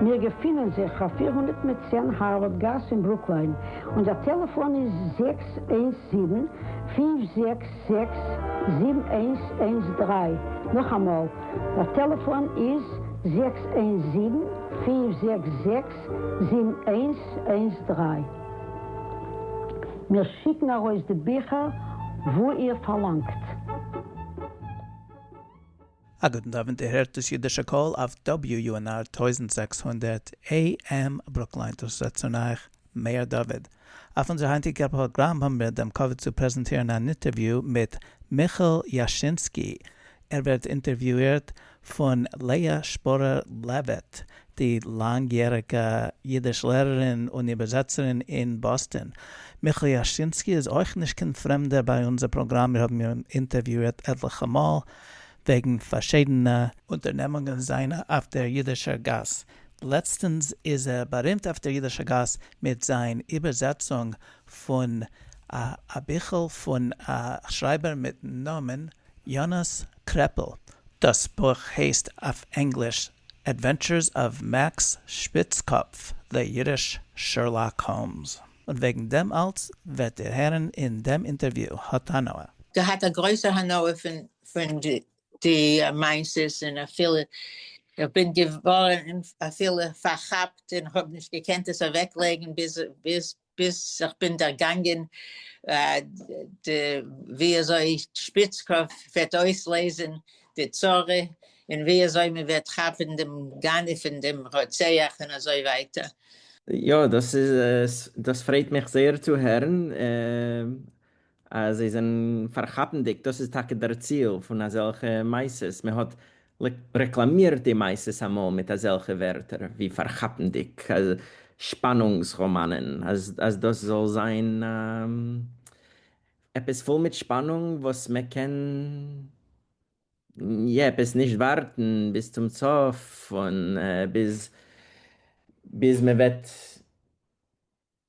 מיר געפינען זיך אויף פֿיר הונדערט מיט צען הארווארד גאס אין ברוקליין, אונזער טעלעפאן איז זעקס איינס זיבן, פֿינף זעקס זעקס, זיבן איינס איינס דרײַ, נאכאמאל, דער טעלעפאן איז זעקס איינס זיבן, פֿינף זעקס זעקס, זיבן איינס איינס דרײַ. מיר שיקן ארויס די ביכער וואו איר פארלאנגט. א גוטן אווענט איר הערט דאס אידישע קול אויף WUNR טויזנט זעקס הונדערט AM ברוקלין דאס רעדט צון אייך מאיר דוד. אויף אונזער היינטיגע פראגראם האבן מיר דעם כבוד צו פרעזענטירן אן איטערוויו מיט מיכאל יאשינסקי, ער ווערט אינטערוויאירט פון לאה שפורער לעוויט, די לאנג יעריגע אידיש לערערין און איבערזעצערין אין באסטען. מיכאל יאשינסקי איז אויך נישט קיין פרעמדער ביי אונזער פראגראם מיר האבן אים אינטערוויאירט עטליכע מאל וועגן פארשידענע אונטערנעמונגען זיינע אויף דער יידישער גאס, לעצטנס איז ער בארימט אויף דער יידישער גאס מיט זיין איבערזעצונג פון א ביכל פון א שרייבער מיטן נאמען יאנאס קרעפל, דאס בוך הייסט אויף ענגליש Adventures of Max Spitzkopf, The Yiddish Sherlock Holmes. און וועגן דעם אלץ וועט איר הערן אין דעם אינטערוויו. האט הנאה. געהאט א גרויסע הנאה פון די מעשות און אפילו איך בין געווארן אפילו פארכאפט און כ'האב נישט געקענט עס אוועק לייגן ביז איך בין דערגאנגען ווי אזוי שפיצקאפ וועט אויסלעזען די צרה און ווי אזוי מען וועט כאפען דעם גנב און דעם רוצח און אזוי ווייטער. יא, דאס איז דאס פרייט מיך זייער צו הערן אז זיי זענען פארכאפנדיג, דאס איז טאקע דער ציל פון אזעלכע מעשות, מען האט רעקלאמירט די מעשות אמאל מיט אזעלכע ווערטער ווי פארכאפנדיג, שפאנונגס ראמאנען, אז דאס זאל זיין עפעס פול מיט שפאנונג וואס מען קען. יעפס נישט ווארטן ביז צום סוף און ביז ביז מען וועט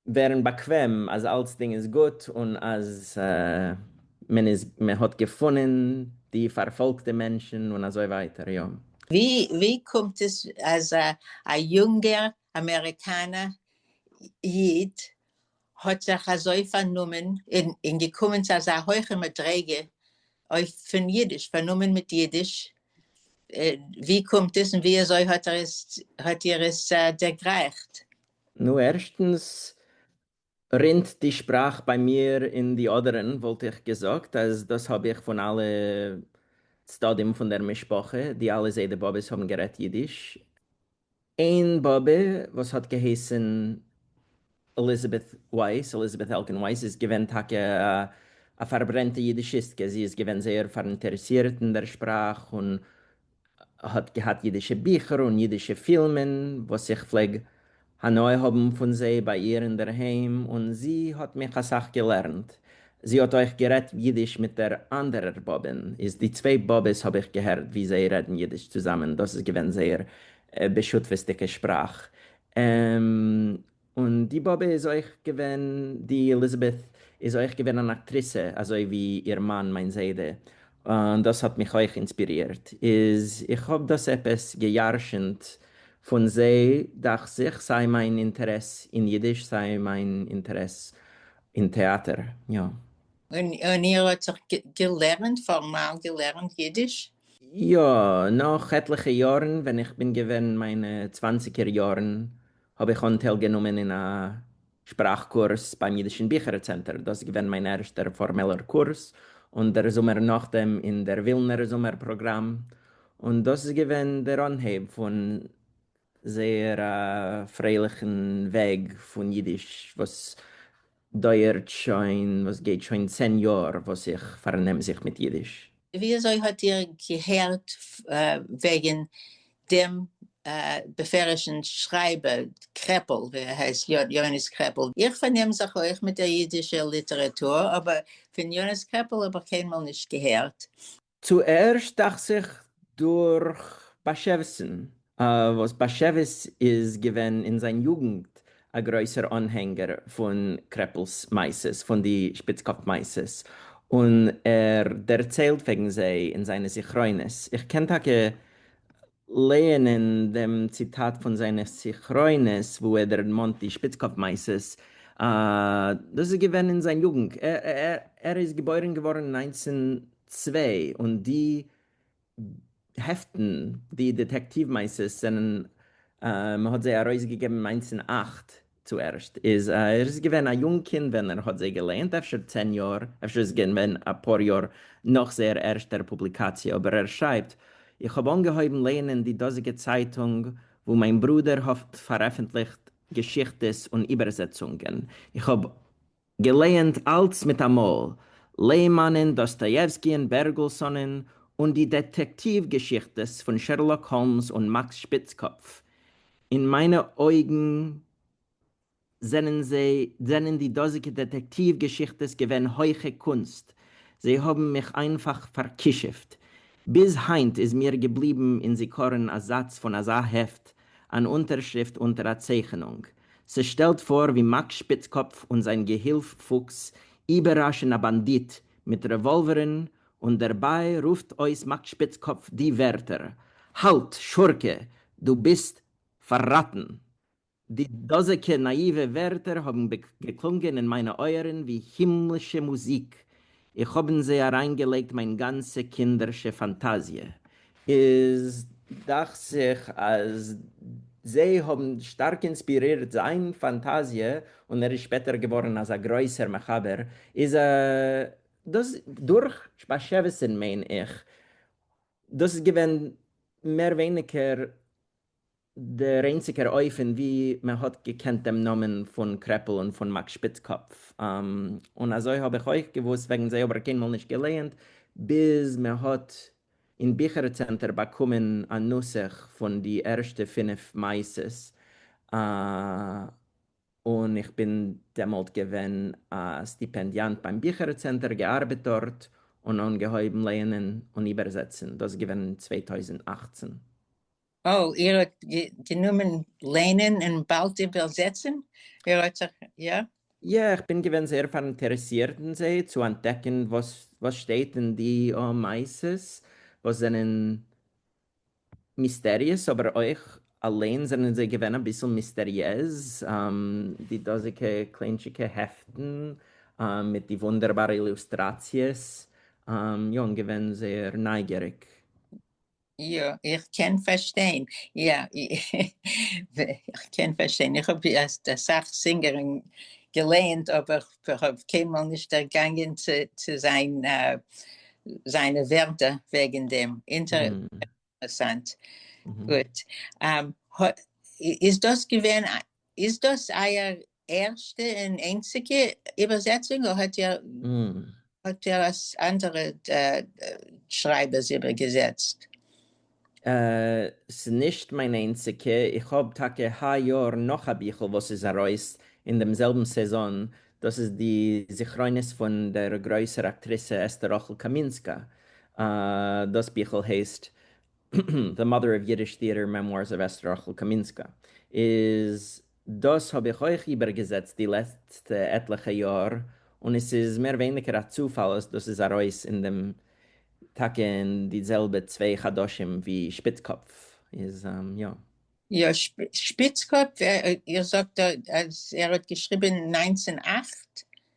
ווערן באקוועם אז אלצדינג איז גוט און אז מען איז מען האט געפונען די פארפאלגטע מענטשן און אזוי ווייטער יא. ווי קומט עס אז א יונגער אמעריקאנער איד האט זיך אזוי פארנומען און געקומען צו אזא הויכע מדריגה אויף פון אידיש, פארנומען מיט אידיש, ווי קומט עס און ווי אזוי האט ער עס, האט איר עס דערגרייכט? נו ערשטנס רינט די שפראך ביי מיר אין די אדערן, וואלט איך געזאגט אז דאס האב איך פון אלע צדדים פון דער משפחה, די אלע זיידע באבעס האבן גערעדט אידיש, איין באבע וואס האט געהייסן עליזאבעט ווייס, Elizabeth Elkin Weiss, איז געווען טאקע א פארברענטע אידישיסטקע, זי איז געווען זייער פאראינטערעסירט אין דער שפראך און האט געהאט אידישע ביכער און אידישע פילמען וואס איך פלעג הנאה האבן פון זיי ביי איר אינדערהיים און זי האט מיך אסאך געלערנט זי האט אויך גערעדט אידיש מיט דער אנדערער באבען, איז די צוויי באבעס האב איך געהערט ווי זיי רעדן אידיש צוזאמען, דאס איז געווען זייער בשותפות'דיגע שפראך, און די באבע איז אויך געווען, די עליזאבעט איז אויך געווען אן אקטריסע אזוי ווי איר מאן מיין זיידע, און דאס האט מיך אויך אינספירירט, איז איך האב דאס עפעס גע'ירש'נט פון זיי דאכט זיך, סיי מיין אינטערעס אין אידיש סיי מיין אינטערעס אין טעאַטער, יאָ. און איר האָט זיך געלערנט, פֿאָרמאַל געלערנט ייִדיש? יאָ, נאָך עטלעכע יאָרן, ווען איך בין געווען אין מײַנע צוואַנציקער יאָרן, האָב איך אָנטייל גענומען אין אַ שפּראַך-קורס בײַם ייִדישן ביכערצענטער. דאָס איז געווען מײַן ערשטער פֿאָרמעלער קורס, און דער זומער נאָך דעם, אין דער ווילנער זומער-פּראָגראַם. און דאָס איז געווען דער אָנהייב פֿון זייער א פרייליכן וועג פון אידיש וואס דויערט שוין, וואס גייט שוין צען יאר וואס איך פארנעם זיך מיט אידיש. וויאזוי האט איר געהערט וועגן דעם בפערשן שרייבער קרעפל, ווי ער הייסט, יונס קרעפל? איך פארנעם זיך אויך מיט דער אידישער ליטעראטור, אבער פון יונס קרעפל האב איך קיינמאל נישט געהערט. צוערשט דאכט זיך דורך באשעוויס'ן, וואס באשעוויס איז געווען אין זיין יוגנט א גרויסער אנהענגער פון קרעפל'ס מעשות, פון די שפיצקאפ מעשות, און ער דערציילט וועגן זיי אין זיינע זכרונות, איך קען טאקע לייענען דעם ציטאט פון זיינע זכרונות וואו ער דערמאנט די שפיצקאפ מעשות, דאס איז געווען אין זיין יוגנט, ער איז געבוירן געווארן אין נײַנצן צוויי און די העפטן, די דעטעקטיוו מעשות זענען, מען האט זיי ארויסגעגעבן אין נײַנצן אַכט, צו ערשט איז ער איז געווען א יונג קינד ווען ער האט זיי געלייענט, אפשר צען יאר, אפשר איז עס געווען אפאר יאר נאך זייער ערשטער פובליקאציע, אבער ער שרייבט, איך האב אנגעהויבן לייענען די דאזיגע צייטונג וואו מיין ברודער האט פארעפנטליכט געשיכטעס און איבערזעצונגען, איך האב. געלייענט אַלץ מיט אַ מאָל, לעמאַנען, דאָסטאָיעווסקיען, בערגעלסאָנען, און די דעטעקטיוו-געשיכטעס פֿון שערלאָק האָלמס און מאַקס שפּיצקאָפּף. אין מײַנע אויגן זענען זיי, זענען די דאָזיקע דעטעקטיוו-געשיכטעס געווען הויכע קונסט. זיי האָבן מיך איינפֿאַך פֿאַרקישופֿט. ביז הײַנט איז מיר געבליבן אין זיכּרון אַ זאַץ פֿון אַזאַ העפֿט, אַן אונטערשריפֿט אונטער אַ צייכענונג, ס'שטעלט פאָר ווי מאַק שפּיצקאָפּף און זיין געהילף פוקס איבערראַשן אַ באַנדיט מיט רעוואָלווערן, און דערביי רופט אויס מאַק שפּיצקאָפּף די ווערטער, האַלט, שורקע, דו ביסט פאַרראַטן! די דאָזיקע נאַיִווע ווערטער האָבן געקלונגען אין מיינע אויערן ווי הימלישע מוזיק, איך האב אין זיי אריינגעלייגט מיין גאנצע קינדערשע פאנטאזיע. איז דאכט זיך אז זיי האבן שטארק אינספירירט זיין פאנטאזיע און ער איז שפעטער געווארן אזא גרויסער מחבר. איז דאס דורך באשעוויסען מיין איך. דאס איז געווען מער ווייניגער דער איינציגער אופן ווי מען האט געקענט דעם נאמען פון קרעפל און פון מאק שפיצקאפף, און אזוי האב איך אויך געוואוסט וועגן זיי אבער קיינמאל נישט געלייענט, ביז מען האט אין ביכער צענטער באקומען א נוסח פון די ערשטע פינף מעשות, און איך בין דעמאלט געווען א סטיפענדיאנט ביים ביכער צענטער, געארבעט דארט, און אנגעהויבן לייענען און איבערזעצן, דאס איז געווען אין צוויי טויזנט אַכצן. אה, איר האט גענומען ליינען און באלד איבערזעצן? איר האט זיך, יא? יא, איך בין געווען זייער פאראינטערעסירט אין זיי, צו אנטדעקן וואס וואס שטייט אין די מעשות וואס זענען מיסטעריעז, אבער אויך אליין זענען זיי געווען אביסל מיסטעריעז, די דאזיגע קליינטשיגע העפטן מיט די וואונדערבארע אילוסטראציעס, יא, און געווען זייער נייגעריג. יא איך קען פארשטיין, יא איך קען פארשטיין, איך האב אסאך סינגערין געלייענט אבער כ'האב קיינמאל נישט דערגאנגען צו זיין זיינע ווערטער וועגן דעם, אינטערסאנט, גוט, איז דאס געווען איז דאס אייער ערשטע און איינציגע איבערזעצונג אדער האט ער האט ער אנדערע שרייבערס איבערגעזעצט? ס'איז נישט מיין איינציגע, איך האב טאקע היי יאר נאך א ביכל וואס איז ארויס אין דעם זעלבן סעזאן, דאס איז די זכרונות פון דער גרויסער אקטריסע אסתר רחל קאמינסקא, דאס ביכל הייסט The Mother of Yiddish Theatre, Memoirs of Esther Rachel Kaminska, איז דאס האב איך אויך איבערגעזעצט די לעצטע עטליכע יאר, און עס איז מער ווייניגער א צופאל אז דאס איז ארויס אין דעם טאקע אין די זעלבע צוויי חדשים ווי שפיצקאפף איז יא. יא, שפיצקאפף, איר זאגט אז ער האט געשריבען נײַנצן אַכט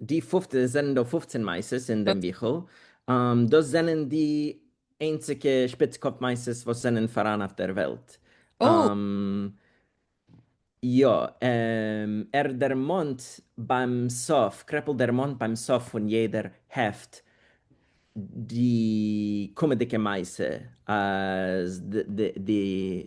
די פופט עס זענען דא פופצען מעשות אין דעם ביכל, דאס זענען די איינציגע שפיץ קאפ מעשות וואס זענען פאראן אויף דער וועלט. יא, ער דערמאנט ביים סוף, קרעפל דערמאנט ביים סוף פון יעדער העפט די קומעדיגע מעשה אז די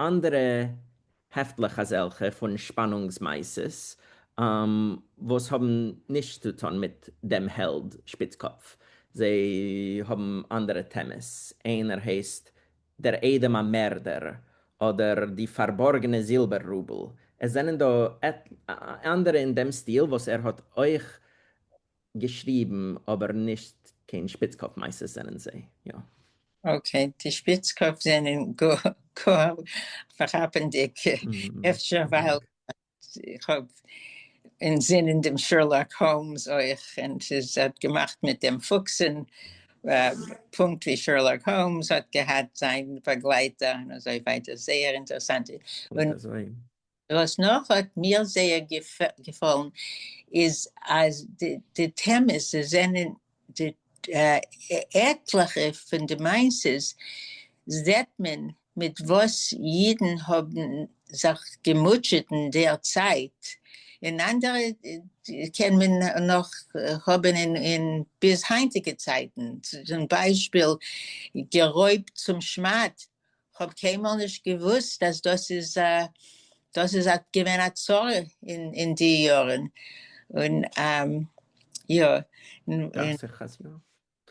אנדערע העפטלעך אזעלכע פון שפאנונגס מעשות וואס האבן נישט צו טון מיט דעם העלד שפיצקאפף, זיי האבן אנדערע טעמעס, איינער הייסט דער איידעם א מערדער, אדער די פארבארגענע זילבער רובל, עס זענען דא אנדערע אין דעם סטיל וואס ער האט אויך געשריבן אבער נישט קיין שפיצקאפ מעשות זענען זיי יא. אקעי די שפיצקאפ זענען גאר פארכאפענדיג אפשר ווייל איך האב אינזינען דעם שרלאק האומס אויך און סאיז האט געמאכט מיט דעם פוקסען פונקט ווי שרלאק האומס האט געהאט זיין באגלייטער און אזוי ווייטער זייער אינטערסאנט און. וואס נאך האט מיר זייער געפאלן איז אז די טעמעס זענען די עטליכע פון די מעשות זעהט מען מיט וואס אידן האבן זיך געמוטשעט אין דער צייט, און אנדערע קען מען נאך האבן אין ביז היינטיגע צייטן, צום ביישפיל גערויבט צום שמד כ'האב קיינמאל נישט געוואוסט אז דאס איז דאס איז א געווען א צרה אין אין די יארן און יא דאכט זיך אז יא.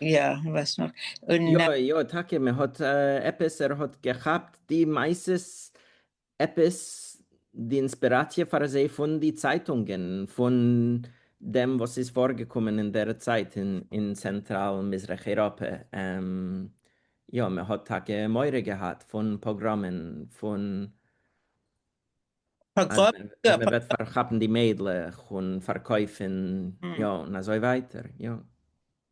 יא וואס נאך און. יא יא טאקע מען האט עפעס ער האט געכאפט די מעשות עפעס די אינספיראציע פאר זיי פון די צייטונגען פון דעם וואס איז פארגעקומען אין דער צייט אין צענטראל מזרח אייראפע, יא מען האט טאקע מורא געהאט פון פאגראמען, פון אז מען וועט פארכאפן די מיידלעך און פארקויפן, יא און אזוי ווייטער, יא.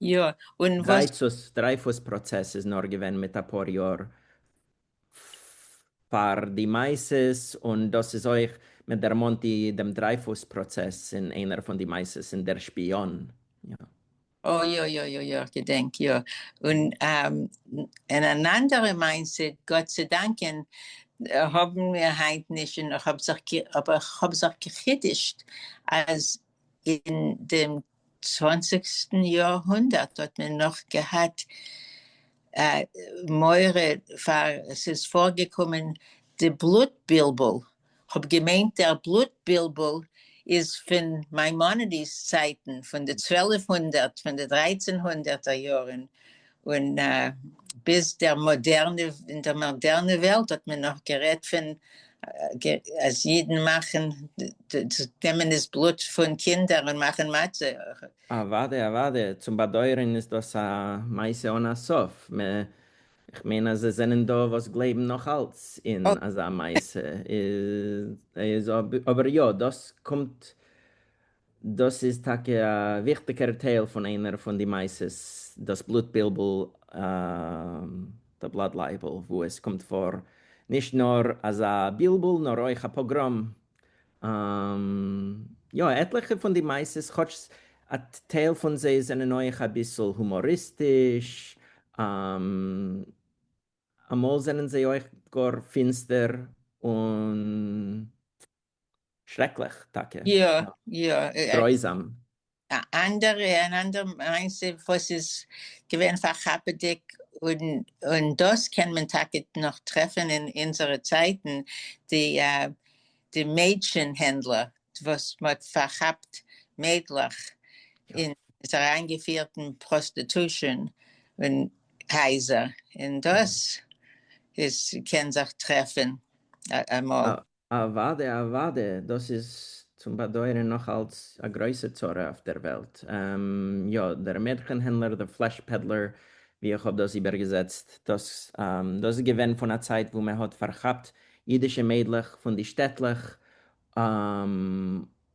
יא, און וואס? דרייפוס פראצעס איז נאר געווען מיט אפאר יאר פאר די מעשה, און דאס איז אויך, מען דערמאנט די דעם דרייפוס פראצעס אין איינער פון די מעשות אין דער שפיאן, יא. אה יא יא יא יא כ'געדענק יא, און אין אן אנדערע מעשה, גאט צו דאנקען האבן מיר היינט נישט, און איך האב זיך, אבער איך האב זיך גע'חידוש'ט אז אין דעם צוואנציגסטן יאר הונדערט האט מען נאך געהאט מורא פאר עס איז פארגעקומען די בלוט בלבול, כ'האב געמיינט דער בלוט בלבול איז פון מיימאנעדיס צייטן פון די צוועלף הונדערט פון די דרייצען הונדערטער יארן און ביז דער מאדערנע, אין דער מאדערנע וועלט האט מען נאך גערעדט פון אז אידן מאכן, נעמען איז בלוט פון קינדער און מאכן מצה. אוואדע אוואדע, צום באדויערען איז דאס א מעשה אן א סוף, כ'מיין אז עס זענען דא וואס גלייבן נאך אלץ אין אזא מעשה, איז אבער יא דאס קומט דאס איז טאקע א וויכטיגער טייל פון איינער פון די מעשות, דאס בלוט בלבול, The Blood Libel, וואו עס קומט פאר נישט נאר אזא בלבול נאר אויך א פאגראם. יא, עטליכע פון די מעשות, כאטש א טייל פון זיי זענען אויך אביסל הומאריסטיש, אמאל זענען זיי אויך גאר פינסטער און שרעקליך טאקע. יא יא. גרויזאם. א אנדערע אן אנדערע מעשה וואס איז געווען פארכאפעדיג און און דאס קען מען טאקע נאך טרעפען אין אונזערע צייטען די די מעדשען הענדלער וואס מען האט פארכאפט מיידלעך אין עס אריין געפירט אין פראסטעטושען און הייזער און דאס איז קען זיך טרעפען אמאל. אוואדע אוואדע, דאס איז צום באדויערען נאך אלץ א גרויסע צרה אויף דער וועלט. יא, דער מעדכען הענדלער, דער פלעש פעדלער ווי איך האב דאס איבערגעזעצט, דאס איז געווען פון א צייט וואו מען האט פארכאפט אידישע מיידלעך פון די שטעטלעך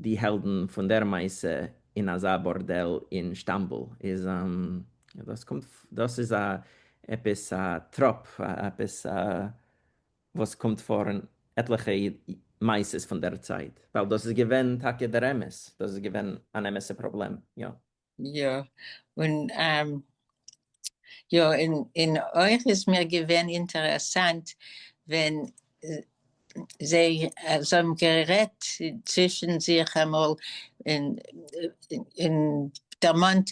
די העלדן פון דער מעשה אין אזא בארדעל אין שטאמבול איז דאס קומט דאס איז א עפעס א טראפ עפעס וואס קומט פאר אין עטליכע מעשות פון דער צייט ווייל דאס איז געווען טאקע דער אמת דאס איז געווען אן אמת'ע פראבלעם יא. יא, און יא, און אויך איז מיר געווען אינטערעסאנט ווען זיי האבן גערעדט צווישן זיך אמאל און דערמאנט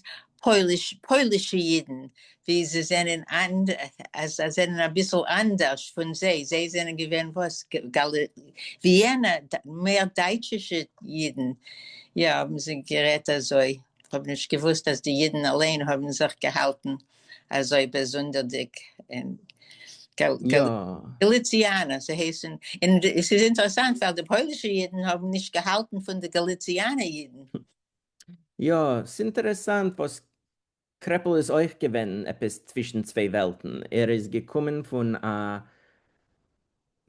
פוילישע אידן, ווי זיי זענען אנד אז זיי זענען אביסל אנדערש פון זיי, זיי זענען געווען וואס? גאלע וויענע מער דייטשישע אידן, יא האבן זיי גערעדט אזוי, כ'האב נישט געוואוסט אז די אידן אליין האבן זיך געהאלטן אזוי באזונדערדיג און גאלע יא. גאליציאנע זיי הייסן, און עס איז אינטערעסאנט ווייל די פוילישע אידן האבן נישט געהאלטן פון די גאליציאנע אידן. יא, ס'אינטערעסאנט וואס קרעפל איז אויך געווען עפעס צווישן צוויי וועלטן, ער איז געקומען פון א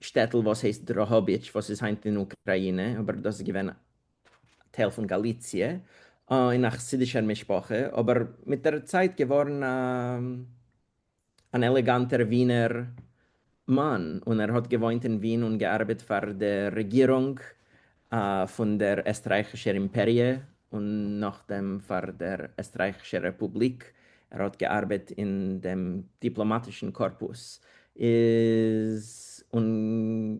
שטעטל וואס הייסט דראהאביטש וואס איז היינט אין אוקראינע אבער דאס איז געווען טייל פון גאליציע, אין א חסידישער משפחה אבער מיט דער צייט געווארן א. אן עלעגאנטער ווינער מאן, און ער האט געוואוינט אין ווין און געארבעט פאר די רעגירונג פון דער עסטרייכישער אימפעריע, און נאכדעם פאר דער עסטרייכישער רעפובליק, ער האט געארבעט אין דעם דיפלאמאטישן קארפוס, איז און.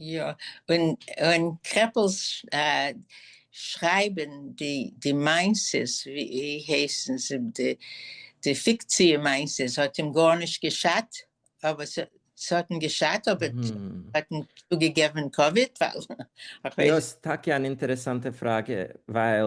יא, און און קרעפל'ס שרייבען די די מעשות, ווי הייסן זיי, די די פיקציע מעשות האט אים גארנישט געשאדט, אבער ס' ס'האט אים געשאדט, אבער ס'האט אים צוגעגעבען כבוד, ווייל איך ווייס. יא, ס'טאקע אן אינטערעסאנטע פראגע, ווייל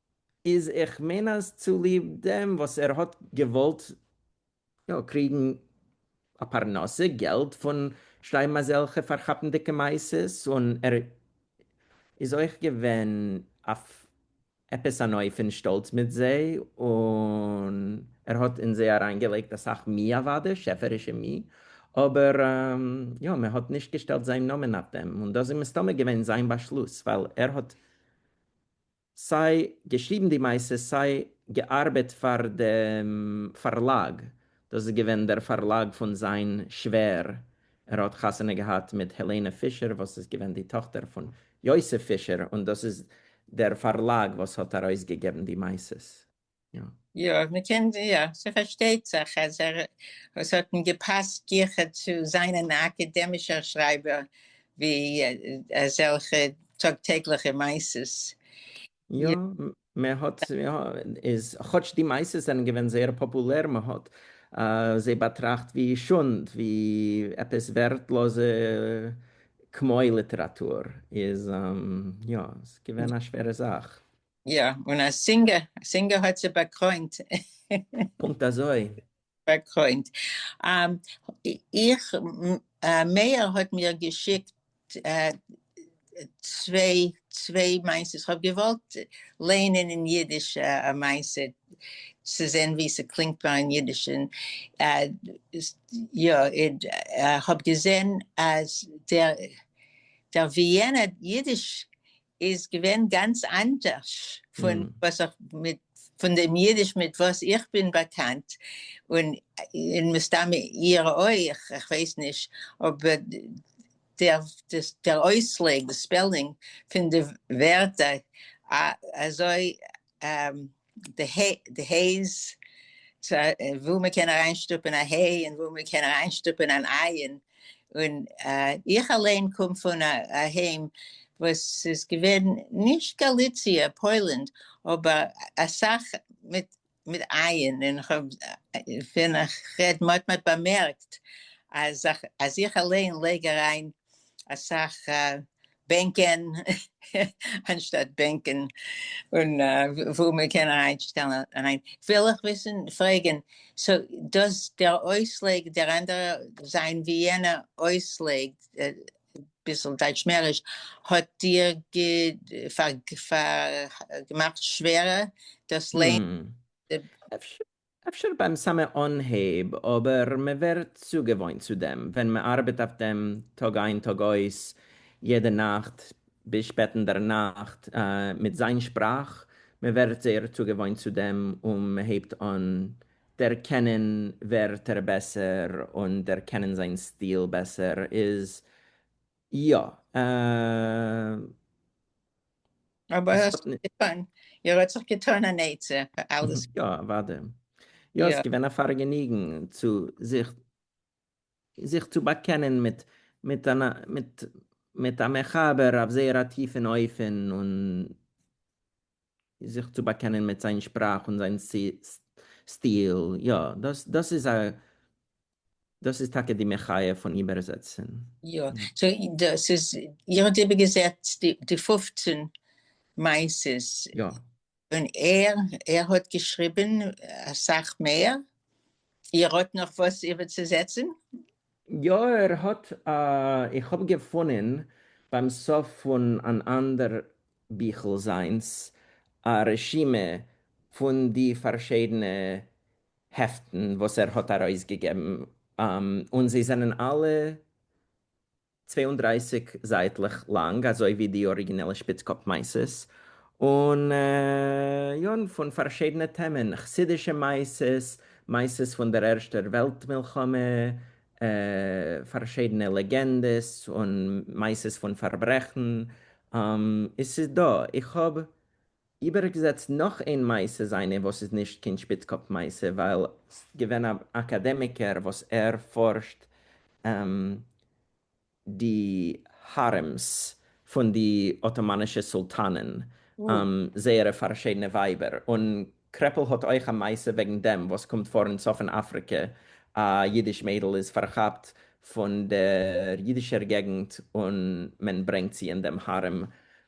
איז איך מיין אז צוליב דעם וואס ער האט געוואלט יא קריגן א פרנסה געלט פון שרייבן אזעלכע פארכאפנדיגע מעשות און ער איז אויך געווען אויף עפעס אן אופן שטאלץ מיט זיי און ער האט אין זיי אריינגעלייגט אסאך מי אוואדע שעפערישע מי אבער יא מען האט נישט געשטעלט זיין נאמען אויף דעם און דאס איז מסתמא געווען זיין באשלוס ווייל ער האט סיי געשריבן די מעשה סיי געארבעט פאר דעם פארלאג, דאס איז געווען דער פארלאג פון זיין שווער, ער האט חתונה געהאט מיט העלענע פישער וואס איז געווען די טאכטער פון יוסף פישער, און דאס איז דער פארלאג וואס האט ארויסגעגעבן די מעשות. יא. יא, מ'קען יא, ס'פארשטייט זיך אז ער, עס האט אים געפאסט גיכער צו זיין אן אקעדעמישער שרייבער ווי אזעלכע טאג טעגליכע מעשות. יא, מען האט, איז כאטש די מעשות זענען געווען זייער פאפולער, מען האט זיי באטראכט ווי שונד, ווי עפעס ווערטלאזע כמו ליטעראטור, איז יא, ס'איז געווען א שווערע זאך. יא, און א סינגער, א סינגער האט זי באקרוינט. פונקט אזוי. באקרוינט. איך, מאיר האט מיר געשיקט צוויי, צוויי מעשיות, כ'האב געוואלט לייענען אין אידיש א מעשה, צו זען ווי ס'קלינגט פאר אין אידיש, און יא, כ'האב געזען אז דער וויענער אידיש איז געווען גאנץ אנדערש פון וואס איך מיט פון דעם אידיש מיט וואס איך בין באקאנט, און און מסתם איר אויך, איך ווייס נישט אויב דער דער אויסלייג, די ספעלינג פון די ווערטער אזוי. די הייז, וואו מען קען אריינשטופען א היי און וואו מען קען אריינשטופען אן אייען, און איך אליין קום פון אהיים וואס איז געווען נישט גאליציע, פוילענד, אבער אסאך מיט מיט אייען, און ווען איך רעד מען האט מיך באמערקט אז איך אליין לייג אריין אסאך בענקען אנשטאט בענקען, און וואו מען קען אריינשטעלן אריין, וויל איך וויסן פרעגן, סאו דאס דער אויסלייג דער אנדערע זיין ווי יענער אויסלייג ביסל דייטשמעריש האט דיר געמאכט שווערער דאס לערנען? אפשר ביים סאמע אנהייב, אבער מען ווערט צוגעוואוינט צו דעם, ווען מען ארבעט אויף דעם טאג איין טאג אויס, יעדע נאכט ביז שפעט אין דער נאכט, מיט זיין שפראך, מען ווערט זייער צוגעוואוינט צו דעם, און מען הייבט אן דערקענען ווערטער בעסער, און דערקענען זיין סטיל בעסער, איז יא. אבער האסט נישט געטון, איר האט זיך געטון אן עצה פאר אלעס. יא אוודאי. יא ס'איז געווען א פארגעניגן צו זיך זיך צו באקענען מיט מיט אן מיט מיט א מחבר אויף זייער א טיפן אופן און זיך צו באקענען מיט זיין שפראך און זיין סטיל. יא דאס דאס איז א דאס איז טאקע די מחיה פון איבערזעצן. יא, סאו דאס איז, איר האט איבערגעזעצט די פֿופֿצן מעשות? יא. און ער, ער האט געשריבן אסאך מער? איר האט נאך וואס איבערצוזעצן? יא ער האט, איך האב געפונען ביים סוף פון אן אנדער ביכל זיינס א רשימה פון די פארשידענע העפטן וואס ער האט ארויסגעגעבן, און זיי זענען אלע צוויי און דרײַסיק זייטלעך לאנג אזוי ווי די אריגינעלע שפיץ-קאפ מייסעס, און יא, פון פארשידענע טעמען, חסידישע מייסעס, מייסעס פון דער ערשטער וועלט מלחמה, פארשידענע לעגענדעס און מייסעס פון פארברעכן, עס איז דא, איך האב איבערגעזעצט נאך איין מעשה זיינע וואס איז נישט קיין שפיצקאפ מעשה ווייל סט געווען א אקאדעמיקער וואס ער פארשט די הארעמס פון די אטאמאנישע סולטאנען זייערע פארשידענע ווייבער און קרעפל האט אויך א מעשה וועגן דעם וואס קומט פאר אין צפון אפריקע א אידיש מיידל איז פארכאפט פון דער אידישער געגנט און מען ברענגט זי אין דעם הארעם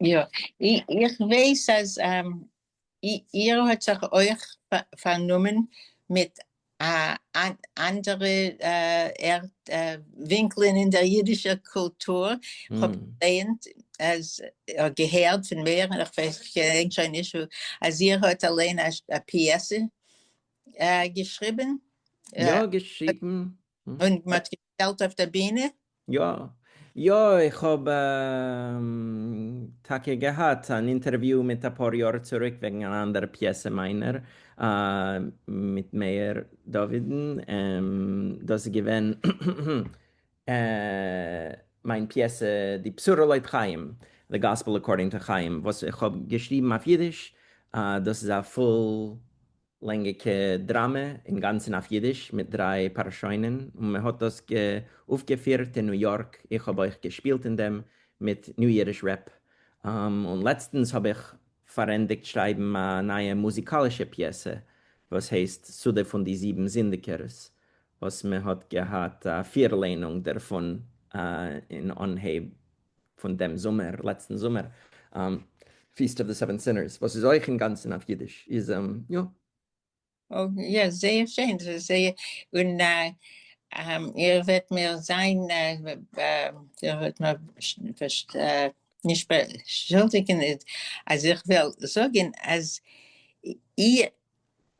יא, איך ווייס אז איר האט זיך אויך פארנומען מיט אנדערע ווינקלען אין דער יידישער קולטור, איך האב געלייענט אדער געהערט פון ווער, איך געדענק שוין נישט וואו, אז איר האט אליין א פיעסע געשריבן. יא, געשריבן. און מ'האט געלט אויף דער בינע? יא. יא, איך האב טאקע געהאט אן אינטערוויו מיט אפאר יאר צוריק וועגן אן אנדער פיעסע מיינער מיט מאיר דויד'ן, דאס איז געווען מיין פיעסע די בשורה לויט חיים, The Gospel According to Chaim, וואס איך האב געשריבן אויף אידיש, דאס איז א פול לענגיקע דראמע אינגאנצען אויף אידיש מיט דריי פארשוינען און מען האט דאס גע אויפגעפירט אין ניו יארק איך האב אויך געשפילט אין דעם מיט ניו אידיש רעפ און לעצטענס האב איך פארענדיגט שרייבן א נייע מוזיקאלישע פיעסע וואס הייסט סודה פון די זיבן זינדיגערס וואס מען האט געהאט א פירלענונג דערפון אין אנהייב פון דעם זומער, לעצטן זומער, פיסט אוו די סעווען סינערס, וואס איז אויך אינגאנצן אויף אידיש, איז יא. יא, זייער שיין, ס'איז זייער, און איר וועט מיר זיין, איר וועט מיר נישט באשולדיגן אז איך וועל זאגן אז איר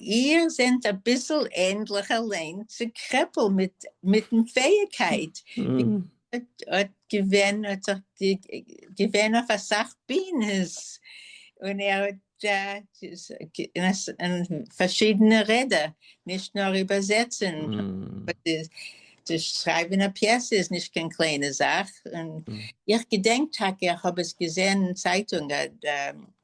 איר זענט אביסל ענדליך אליין צו קרעפל מיטן פעאיגקייט, האט געווען האט זיך געווען אויף אסאך בינעס און ער האט אין פארשידענע רעדער נישט נאר איבערזעצן שרייבען א פיעסע איז נישט קיין קליינע זאך, איך געדענק טאקע איך האב עס געזען אין צייטונג.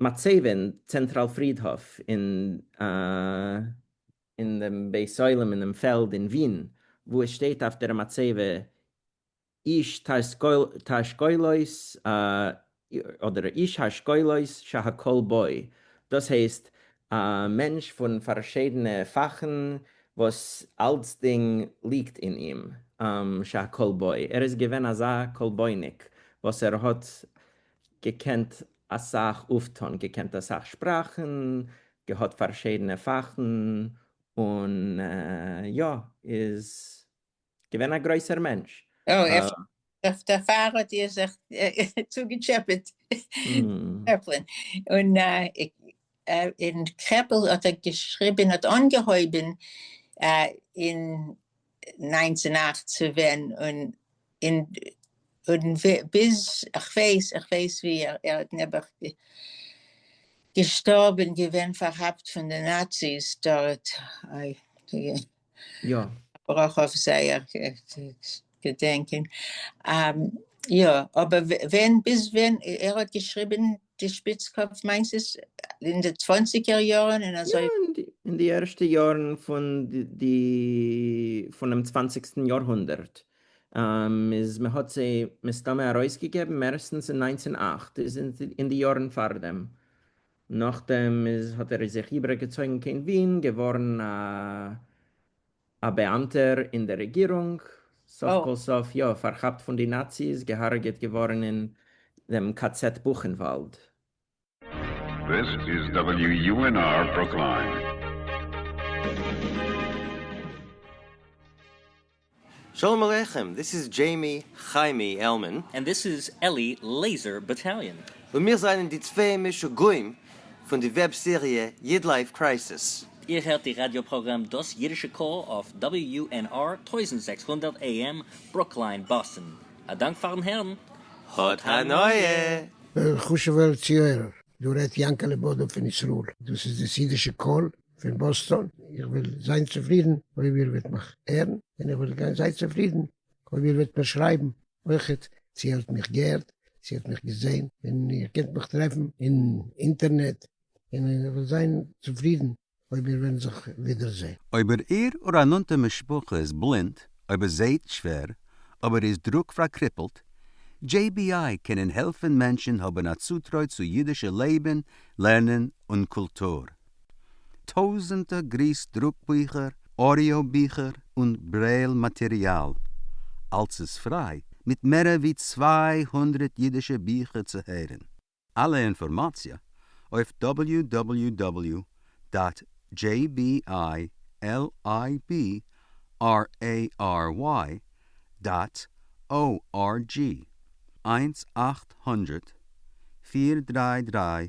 מצבה, צענטראל פרידהאף אין דעם בית עולם אינעם פעלד אין ווין, וואו עס שטייט אויף דער מצבה איש האשכולות אדער איש האשכולות שהכל בו, דאס הייסט א מענטש פון פארשידענע פאכן וואס אלצדינג ליגט אין אים, שהכל בו, ער איז געווען אזא כל בו'ניק וואס ער האט געקענט אסאך אויפטון, געקענט אסאך שפראכן, געהאט פארשידענע פאכן, און יא, איז געווען א גרויסער מענטש. אוי, אפשר דערפאר האט איר זיך צוגעטשעפעט, טשעפלין, און אין קרעפל האט ער געשריבען האט אנגעהויבען אין נײַנצן אַכט צו ווען און און און ביז כ'ווייס כ'ווייס ווי ער איז נעבעך געשטארבען געווען פארכאפט פון די נאציס דארט אוי. יא. ברויך אויף זייער געדענקען. יא אבער ווען ביז ווען ער האט געשריבען די שפיץ קאפ מיינסט עס אין די צוואנציגער יארען אין אזוי. יא אין די ערשטע יארען פון די פונעם צוואנציגסטען יאר הונדערט איז מען האט זיי מסתמא ארויס געגעבען מערסטענס אין נײַנצן אַכט איז אין די יארען פאר דעם נאכדעם איז האט ער זיך איבער געצויגן קיין ווין, געווארן א באאמטער אין די רעגירונג, סוף כל סוף יא פארכאפט פון די נאציס, געהארגעט געווארן אין דעם ק ז בוכענוואלד. This is WUNR Brookline. שלום עליכם, דיס איז דזשעימי חיימי עלמען. און דיס איז אלי לעיזער באטאליאן. און מיר זענען די צוויי משוגעים פון די וועב סעריע איד לייף קרייסיס. איר הערט די ראדיא פראגראם דאס אידישע קול אויף WNR טויזנט זעקס הונדערט AM ברוקליין באסטן. א דאנק פארן הערן. האט הנאה! חשוב'ער צוהערער, דא רעדט יענקעלע בודא פון ישראל, דאס איז דאס אידישע קול. פון באסטאן, איך וועל זיין צופרידן אויב איר וועט מיך הערן, און איך וועל זיין צופרידן אויב איר וועט מיר שרייבן אויכעט צו איר האט מיך געהערט, צו איר האט מיך געזען, און איר קענט מיך טרעפן אין אינטערנעט, און איך וועל זיין צופרידן אויב מיר וועלן זיך ווידערזען. אויב איר איר א נאנטע משפחה איז בלינד, אויב ער זעהט שווער, אויב ער איז דרוק פארקריפלט, JBI קענען העלפן מענטשן האבן א צוטרוי צו אידישע לעבן, לערנען און קולטור. טויזענטער גריס דרוק ביכער, אודיאו ביכער און ברעיל מאטעריאל, אלס איז פריי, מיט מערער ווי צוויי הונדרעט אידישע ביכער צו הערען. אלע אינפארמאציע אויף www דאט jblibrary דאט org, איינס אַכט הונדערט פֿיר דרײַ דרײַ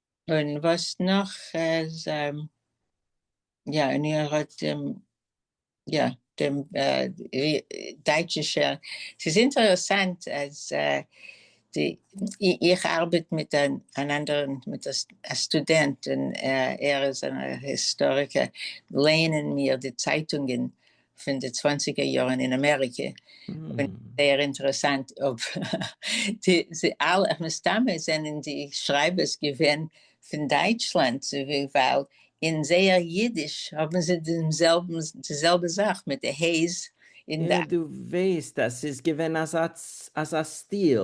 און וואס נאך איז יא און איר האט דעם יא דעם דייטשישע ס'איז אינטערעסאנט אז די איך ארבעט מיט אן אנדערן מיט א סטודענט און ער איז אן היסטאריקער לערנען מיר די צייטונגען פון די צוואנציגער יארן אין אמעריקע, און זייער אינטערעסאנט אויב מסתם זענען די שרייבערס געווען פון דייטשלאנד ווייל אין זייער אידיש האבן זיי דעם זעלבן די זעלבע זאך מיט די ה'ס אין די. דו ווייסט אז ס'איז געווען אזא סטיל,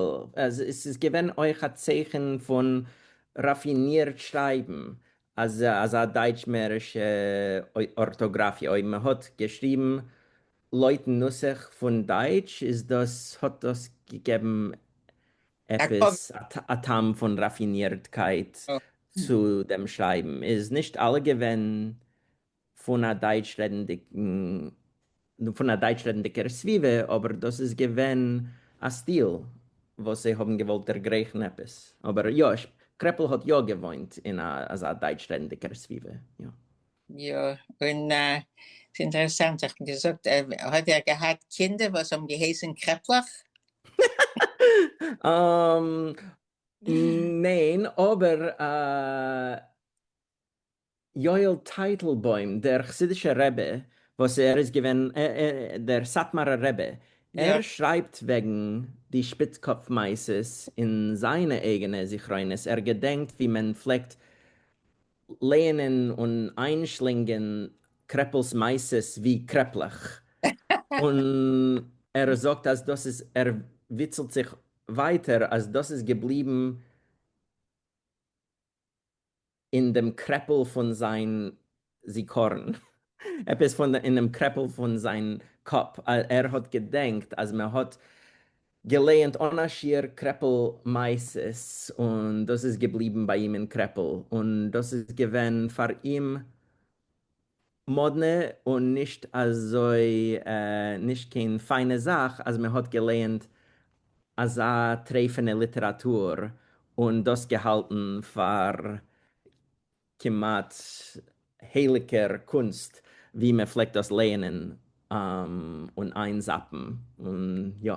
ס'איז געווען אויך א צייכן פון ראפינירט שרייבן, אז אזא דייטש מערישע ארטאגראפיע אויב מען האט געשריבן לויטן נוסח פון דייטש איז דאס האט דאס געגעבן עפעס א טעם פון ראפינירטקייט צו דעם שרייבן איז נישט אלע געווען פון א דייטש רעדנדיגער סביבה, אבער דאס איז געווען א סטיל וואס זיי האבן געוואלט דערגרייכן עפעס, אבער יא, קרעפל האט יא געוואוינט אין אזא דייטש רעדנדיגער סביבה, יא. יא, און ס'אינטערעסאנט, איך האב געזאגט, האט ער געהאט קינדער וואס האבן געהייסן קרעפלעך? ניין, אבער יואל טייטלבוים דער חסידישער רבי וואס ער איז געווען דער סאטמארער רבי ער שרייבט וועגן די שפיצקאפ מעשות אין זיינע אייגענע זכרונות ער געדענקט ווי מען פלעגט לייענען און איינשלינגען קרעפל'ס מעשות ווי קרעפלעך און ער זאגט אז דאס איז ער וויצלט זיך ווייטער אז דאס איז געבליבן אין דעם קרעפל פון זיין זיכרון, עפעס אינעם קרעפל פון זיין קאפ, ער האט געדענקט אז מען האט געלייענט אן א שיעור קרעפל מעשות און דאס איז געבליבן ביי אים אין קרעפל, און דאס איז געווען פאר אים מאדנע און נישט אזוי נישט קיין פיינע זאך אז מען האט געלייענט אזא טרעפענע ליטעראטור און דאס געהאלטן פאר כמעט הייליגער קונסט ווי מען פלעגט דאס לייענען און איין זאפן און יא.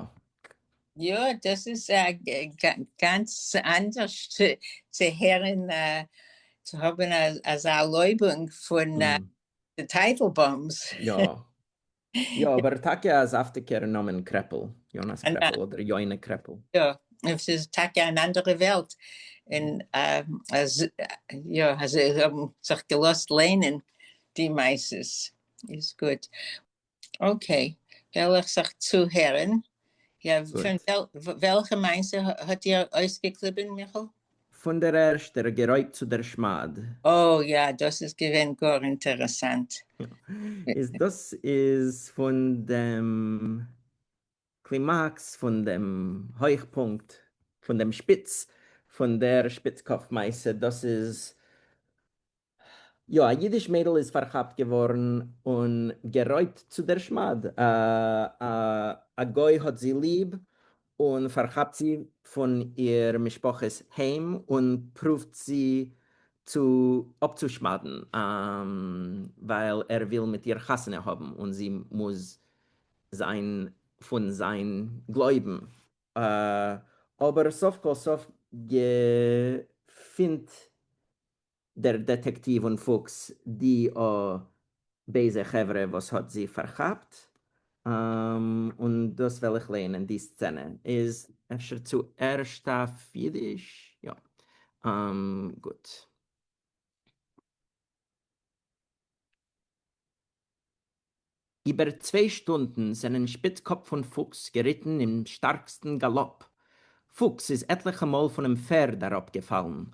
יא דאס איז א גאנץ אנדערש צו הערן צו האבן אזא ערלויבונג פון די טייטלבוימס. יא יא אבער טאקע א זאפטיגער נאמען קרעפל, יונה'ס קרעפל אדער יונה קרעפל. יא און ס'איז טאקע אן אנדערע וועלט און אז יא אז זיי האבן זיך געלאזט ליינען די מעשות איז גוט. אקעי, וועל איך זיך צוהערן. יא, פון וועלכע מעשה האט איר אויסגעקליבען מיכאל? פון דער ערשטער גערויבט צו דער שמד. אוי יא, דאס איז געווען גאר אינטערעסאנט. איז דאס איז פון דעם קלימאקס, פון דעם הויכפונקט, פון דעם שפיץ פון דער שפיץ קאפ מעשה, דאס איז יא, א אידיש מיידל איז פארכאפט געווארן און גערויבט צו דער שמד, א גוי האט זי ליב און פארכאפט זי פון איר משפחה'ס היים און פרואווט זי צו אפצושמד'ן ווייל ער וויל מיט איר חתונה האבן און זי מוז זיין פון זיין גלויבן, אבער סוף כל סוף געפינט דער דעטעקטיוו און פוקס די א בייזע חברה וואס האט זי פארכאפט, און דאס וועל איך לערנען די סצענע איז. אפשר צו ערשט אויף אידיש? יא. גוט. איבער צוויי שטונדן זענען שפיץ קאפ פון פוקס געריטן אין שטארקסטן גאלאפ. פוקס איז עטליכע מאל פונעם פערד אראפגעפאלן,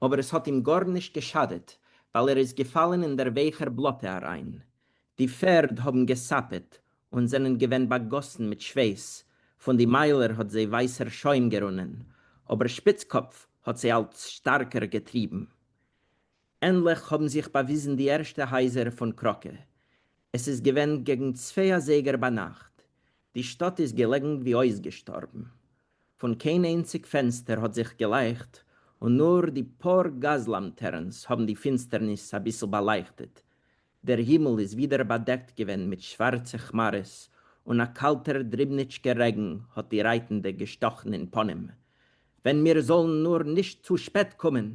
אבער עס האט אים גארנישט געשאדעט, ווייל ער איז געפאלן אין דער ווייכער בלאטע אריין. די פערד האבן געסאפעט און זענען געווען באגאסן מיט שוועס, פון די מיילער האט זיי ווייסער שוים גערונען, אבער שפיץ קאפ האט זיי אלץ שטארקער געטריבן. ענדליך האבן זיך באוויזן די ערשטע הייזער פון קראקע. עס איז געווען געגן צוויי אזייגער ביינאכט. די שטאט איז געלעגן ווי אויסגעשטארבן. פון קיין איינציג פענסטער האט זיך געלייכט, און נאר די פאר גאז-לאמטערנס האבן די פינסטערניס אביסל באלייכטעט. דער הימל איז ווידער באדעקט געווען מיט שווארצע כמארעס, און א קאלטער דריבניטשקער רעגן האט די רייטנדע געשטאכן אין פנים. ווען מיר זאלן נאר נישט צו שפעט קומען!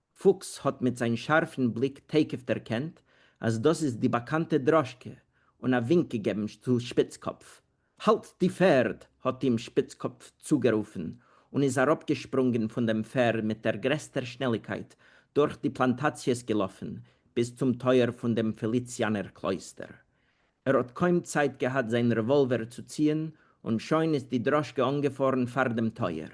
פוקס האט מיט זיין שארפן בליק תיכף דערקענט אז דאס איז די באקאנטע דראשקע, און א ווינק געגעבן צו שפיצקאפף. האלט די פערד! האט אים שפיצקאפף צוגערופן, און איז אראפגעשפרונגען פון דעם פערד מיט דער גרעסטער שנעליקייט דורך די פלאנטאציעס געלאפן ביז צום טויער פון דעם פעליציאנער קלויסטער. ער האט קוים צייט געהאט זיין רעוואלווער צו ציען, און שוין איז די דראשקע אנגעפארן פאר דעם טויער.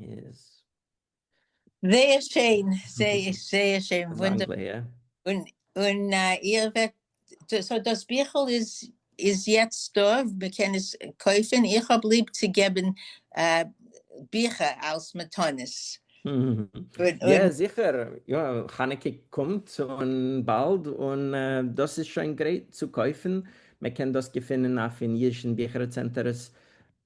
איז. זייער שיין, זייער זייער שיין, און און איר וועט, סאו דאס ביכל איז איז יעצט דא, מען קען עס קויפן, איך האב ליב צו געבן ביכער אלס מתנות. יא זיכער, יא חנוכה קומט און באלד, און דאס איז שוין גרייט צו קויפן, מען קען דאס געפינען אויף אין אידשן ביכער צענטערס.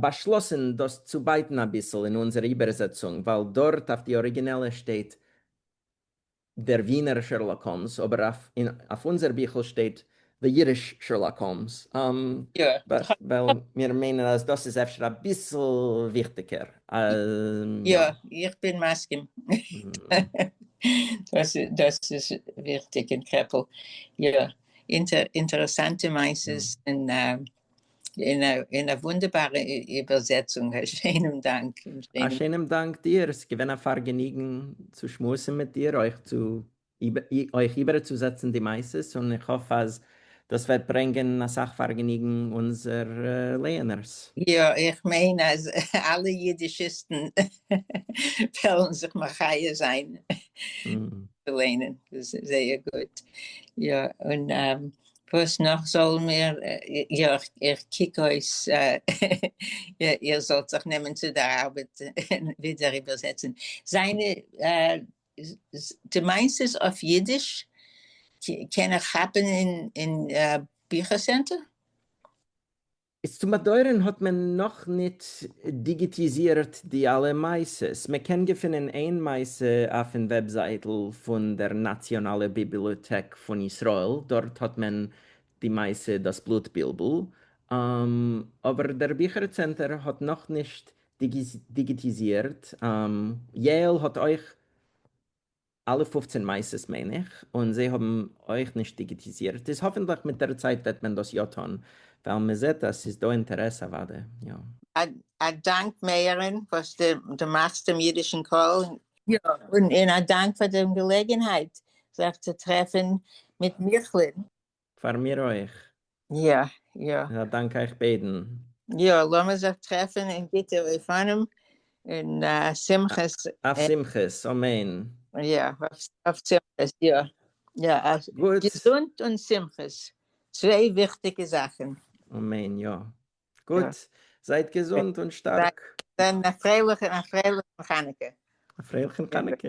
באשלאסן דאס צו בייטן אביסל אין אונזער איבערזעצונג, ווייל דארט אויף די אריגינעלע שטייט דער ווינער שערלאק האלמס, אבער אויף אונזער ביכל שטייט דער אידיש שערלאק האלמס, ווייל מיר מיינען אז דאס איז אפשר אביסל וויכטיגער. יא, איך בין מסכים. דאס איז וויכטיג אין קעפל. יא, אינטערעסאנטע מעשות און אין א אין א וואונדערבארע איבערזעצונג, א שיינעם דאנק! א שיינעם דאנק דיר, ס'איז געווען א פארגעניגן צו שמועסן מיט דיר, אויך צו אויך איבערצוזעצן די מעשות, און איך האף אז דאס וועט ברענגען אסאך פארגעניגן אונזער לייענערס. יא, איך מיין אז אלע אידישיסטן וועלן זיך מחיה זיין צו ליינען, דאס איז זייער גוט. יא, און וואס נאך זאלן מיר, יא איך קוק אויס איר זאלט זיך נעמען צו דער ארבעט און ווידער איבערזעצן זיינע, דו מיינסט עס אויף אידיש? קען איך כאפן אין ביכער סענטער? איז צום באדויערען האט מען נאך ניט דיגיטיזירט די אלע מעשות, מען קען געפינען איין מעשה אויפן וועבזייטל פון דער נאציאנאלע ביבילאטעק פון ישראל, דארט האט מען די מעשה דאס בלוט בילבל, אבער דער ביכער צענטער האט נאך נישט דיגיטיזירט, יעל האט אויך. אלע פופצען מעשות מיין איך, און זיי האבן אויך נישט דיגיטיזירט, איז האפענטליך מיט דער צייט וועט מען דאס יא טון, ווייל מען זעט אז ס'איז דא אינטערעס אוודאי יא. א דאנק מאיר'ן וואס דו מאכסט דעם אידישן קול. יא, און א דאנק פאר דעם געלעגענהייט זיך צו טרעפן מיט מיכל'ען. פאר מיר אויך. יא יא. א דאנק אייך ביידן. יא, לאמיר זיך טרעפן אין גוטע אופנים און שמחות. אויף שמחות, אמן. יא, אויף שמחות, יא. יא, געזונט און שמחות, צוויי וויכטיגע זאכן. אמן, יא. גוט, זייט געזונט און שטארק. זיי א פרייליכן חנוכה. א פרייליכן חנוכה.